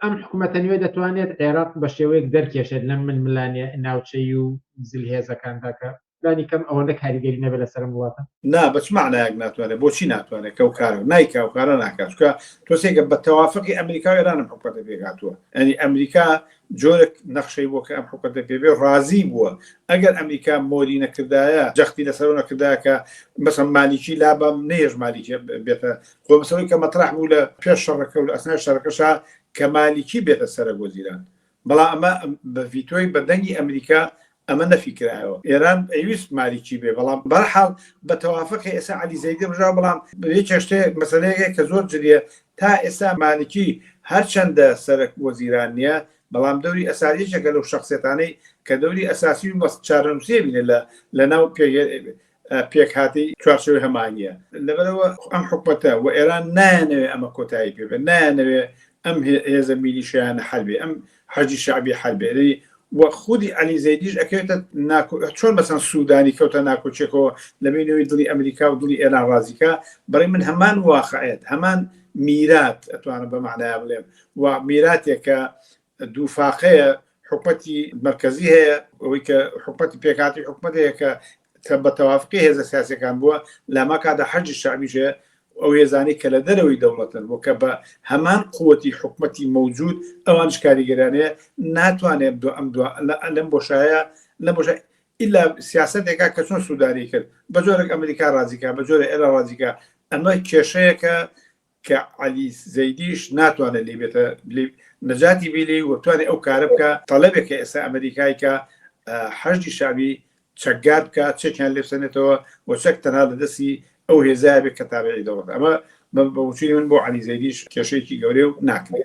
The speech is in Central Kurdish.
ئەم حکومەتە نوێ دەتوانێت عێراق بە شێوەیەک دەرکێشێت لەم ململانێ ناوچەیی و زلهێزەکاندا کە لانی کەم ئەوەندە کاریگەری نەبێت لەسەر ئەم وڵاتە؟ نا بە چ مەعنایەک ناتوانێت؟ بۆچی ناتوانێت کە ئەو کارە نایکا و کارە ناکات؟ چونکە تۆسێکە بە تەوافقی ئەمریکا و ئێرانم حکومەتە پێکهاتووە یانی ئەمریکا جۆرێک نەخشەی بۆ کە ئەم حکومەتە پێ بێ ڕازی بووە ئەگەر ئەمریکا مۆری نەکردایە جەختی لەسەرەوە نەکردایە کە مەسەن مالیکی لابەم نەیەش مالیکی بێتە خۆ مەسەلەی کە مەترەح بوو لە پێش شەڕەکە و لە ئەسنای شەڕەکەشا کە مالیکی بێتە سەرەک وەزیران، بەڵام ئەمە بە ڤیتۆی بە دەنگی ئەمریکا ئەمە نەفی کرایەوە. ئێران ئەیویست مالیکی بێ بەڵام بە هەر حاڵ بە تەوافقی ئێستا عەلی زەیدی ڕژاوە، بەڵام یەکێ شتێ مەسەلەیەکێ کە زۆر جدییە تا ئێستا مالیکی هەر چەندە سەرەک وەزیران نییە بەڵام دەوری ئەساسی یەکێکە لەو شەخسیەتانەی کە دەوری ئەساسی و بە چارەنووسیە بینێ لە لە ناو پێ پێکهاتەی چوارچێوەی هەمانییە لەبەرەوە ئەم حکومەتە و ئێران نایانەوێ ئەمە کۆتایی پێبێت نایانەوێ ئەم هێزە میلیشیانە حربێ ئەم حەجی شعبی حربێ و خودی علی زەیدیش ئەکەوێتە چۆن مەسەن سوودانی کەوتە ناکۆچێکەوە لە بینەوەی دڵی ئەمریکا و دڵی ئێران ڕازیکە بڕی من هەمان واقعێت هەمان میرات ئەتوانم بە معنایا بڵێم و میراتێکە دوو فاقەیە حکومەتی مەرکەزی هەیە ئەوەی کە حکومەتی پێکاتی حکومەتەیە کە تە بە تەوافقی هێزە سیاسەکان بووە لەما کادا حەجی شعبیشێ ئەو هێزانی کە لە دەرەوەی دەوڵەتن بۆ کە بە هەمان قوتی حکومەتی مەوجود ئەوانش کاریگەرانەیە ناتوانێت دو ئەم دو لەم بۆشایە لە بۆش ئللا سیاستێکا کە چۆن سووداری کرد بە جۆرێک ئەمریکا ڕازیکا بە جۆرە ئێرە ڕازیکا ئەمە کێشەیەکە کە عەلی زەیدیش ناتوانێت لێی بێتە لێ نەجاتی بی لێی و بتوانێت ئەو کارە بکە تەڵەبێک کە ئێستا ئەمریکای کە حەشدی شعبی چەکگار بکە چەکیان لێسەنێتەوە و چەک تەنها لە دەستی ئەو هێزای بێت کە تابعی دەوڵەت ئەمە بە وچوی من بۆ عەلی زەیدیش کێشەیەکی گەورەیە و ناکرێت